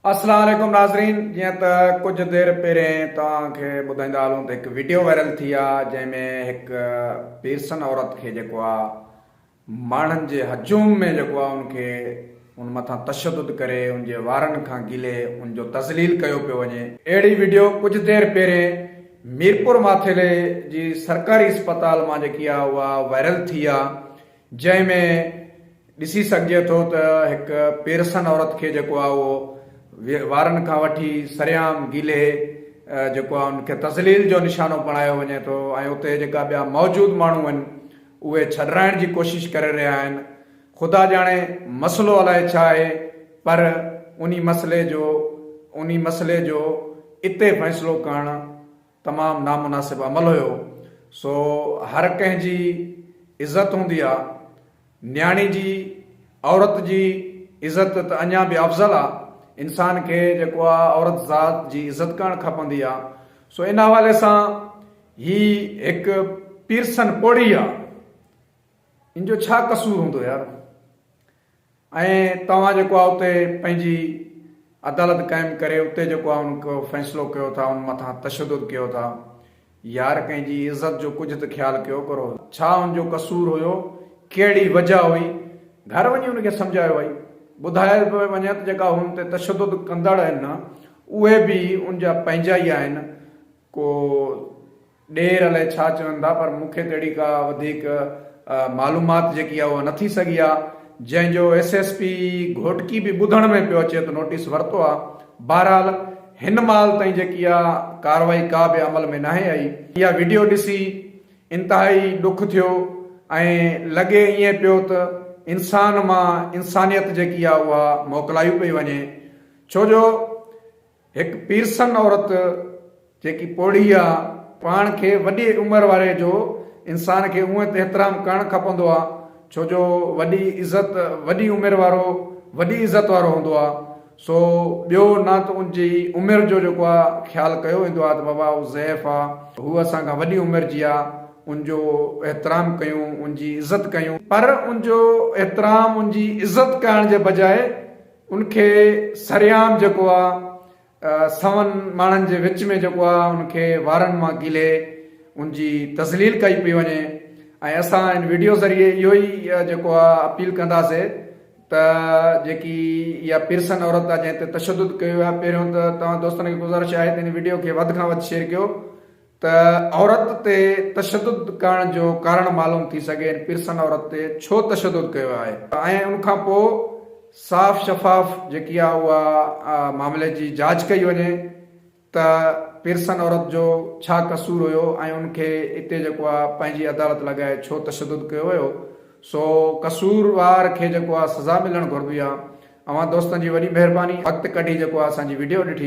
السلام عليڪم ناظرين جيئن ته ڪجهه دير پهرين توهان کي ٻڌائيندا هلون ته هڪ ويڊيو وائرل ٿي آ جنهن ۾ هڪ پيرسن عورت کي جيڪو آ ماڻهن جي هجوم ۾ جيڪو آ ان کي ان مٿان تشدد ڪري ان جي وارن کان گلي ان جو تذليل ڪيو پيو وڃي اهڙي ويڊيو ڪجهه دير پهرين ميرپور ماٿيلي جي سرڪاري اسپتال مان جيڪي آ اها وائرل ٿي آ جنهن ۾ ڏسي سگهجي ٿو ته هڪ پيرسن عورت کي جيڪو آهي اهو وارن کان وٺي سرعام گيلهي جيڪو آهي ان کي تذليل جو نشانو بڻايو وڃي ٿو ۽ اتي جيڪا ٻيا موجود ماڻهو آهن اهي ڇڏرائڻ جي ڪوشش ڪري رهيا آهن خدا ڄاڻي مسئلو الائي ڇا آهي پر انهي مسئلي جو انهي مسئلي جو اتي فيصلو ڪرڻ تمام نامناسب عمل هيو سو هر ڪنهن جي عزت هوندي آ نياڻي جي عورت جي عزت ته اڃان به افضل آ انسان کي جيڪو آ عورت ذات جي عزت ڪرڻ کپندي آ سو ان حوالي سان هي هڪ پيرسن پوڙهي آ ان جو ڇا قصور هوندو يار. ۽ توهان جيڪو آ اتي پنهنجي عدالت قائم ڪري اتي جيڪو آ ان ڪو فيصلو ڪيو ٿا ان مٿان تشدد ڪيو ٿا يار ڪنهن جي عزت جو ڪجهه ته خيال ڪيو ڪرو ڇا ان جو قصور هيو ڪهڙي وجه هئي گهر وڃي ان کي سمجهايو وئي ٻڌايو پيو وڃي ته جيڪا هن تي تشدد ڪندڙ آهن اهي به ان جا پنهنجا ئي آهن ڪو ڏير الائي ڇا چون ٿا پر مون کي ته اهڙي ڪا وڌيڪ معلومات جيڪي آهي اها نه ٿي سگهي آهي جنهن جو ايس ايس پي گهوٽڪي به ٻڌڻ ۾ پيو اچي ته نوٽيس ورتو آهي بهرحال هن مهال تائين جيڪي آهي ڪارروائي ڪا به عمل ۾ ناهي آئي اها وڊيو ڏسي انتهائي ڏک ٿيو ۽ لڳي ائين پيو ته انسان مان انسانيت جيڪي آهي اها موڪلائي پئي وڃي ڇو جو هڪ پيرسن عورت جيڪي پوڙهي آ پاڻ کي وڏي عمر واري جو انسان کي اونهي ته احترام ڪرڻ کپندو آ ڇو جو وڏي عزت وڏي عمر وارو وڏي عزت وارو هوندو آ سو ٻيو نه ته ان جي عمر جو جيڪو آ خيال ڪيو ويندو آ ته بابا هو ضعيف آ هو اسان کان وڏي عمر جي آ ان جو احترام ڪيون ان جي عزت ڪيون پر ان جو احترام ان جي عزت ڪرڻ جي بجاء ان کي سرعام جيڪو آ سون ماڻهن جي وچ ۾ جيڪو آ ان کي وارن مان گيلهي ان جي تذليل ڪئي پئي وڃي ۽ اسان ان ويڊيو ذريعي اهو ئي جيڪو آ اپيل ڪنداسي ته جيڪي اها پيرسن عورت آ جنهن تي تشدد ڪيو ويو آ پهريون ته توهان دوستن کي گذارش آهي ته ان ويڊيو کي وڌ کان وڌ شيئر ڪيو ته عورت تي تشدد ڪرڻ جو ڪارڻ معلوم ٿي سگهي ان پيرسن عورت تي ڇو تشدد ڪيو آهي ۽ ان کان پوء صاف شفاف جيڪي آهي اها معاملي جي جاچ ڪئي وڃي ته پيرسن عورت جو ڇا قصور هيو ۽ ان کي اتي جيڪو آهي پنهنجي عدالت لڳائي ڇو تشدد ڪيو ويو سو قصور وار کي جيڪو آهي سزا ملڻ گهربي آهي اوهان دوستن جي وڏي مهرباني وقت ڪڍي جيڪو آهي اسان جي وڊيو ڏٺي.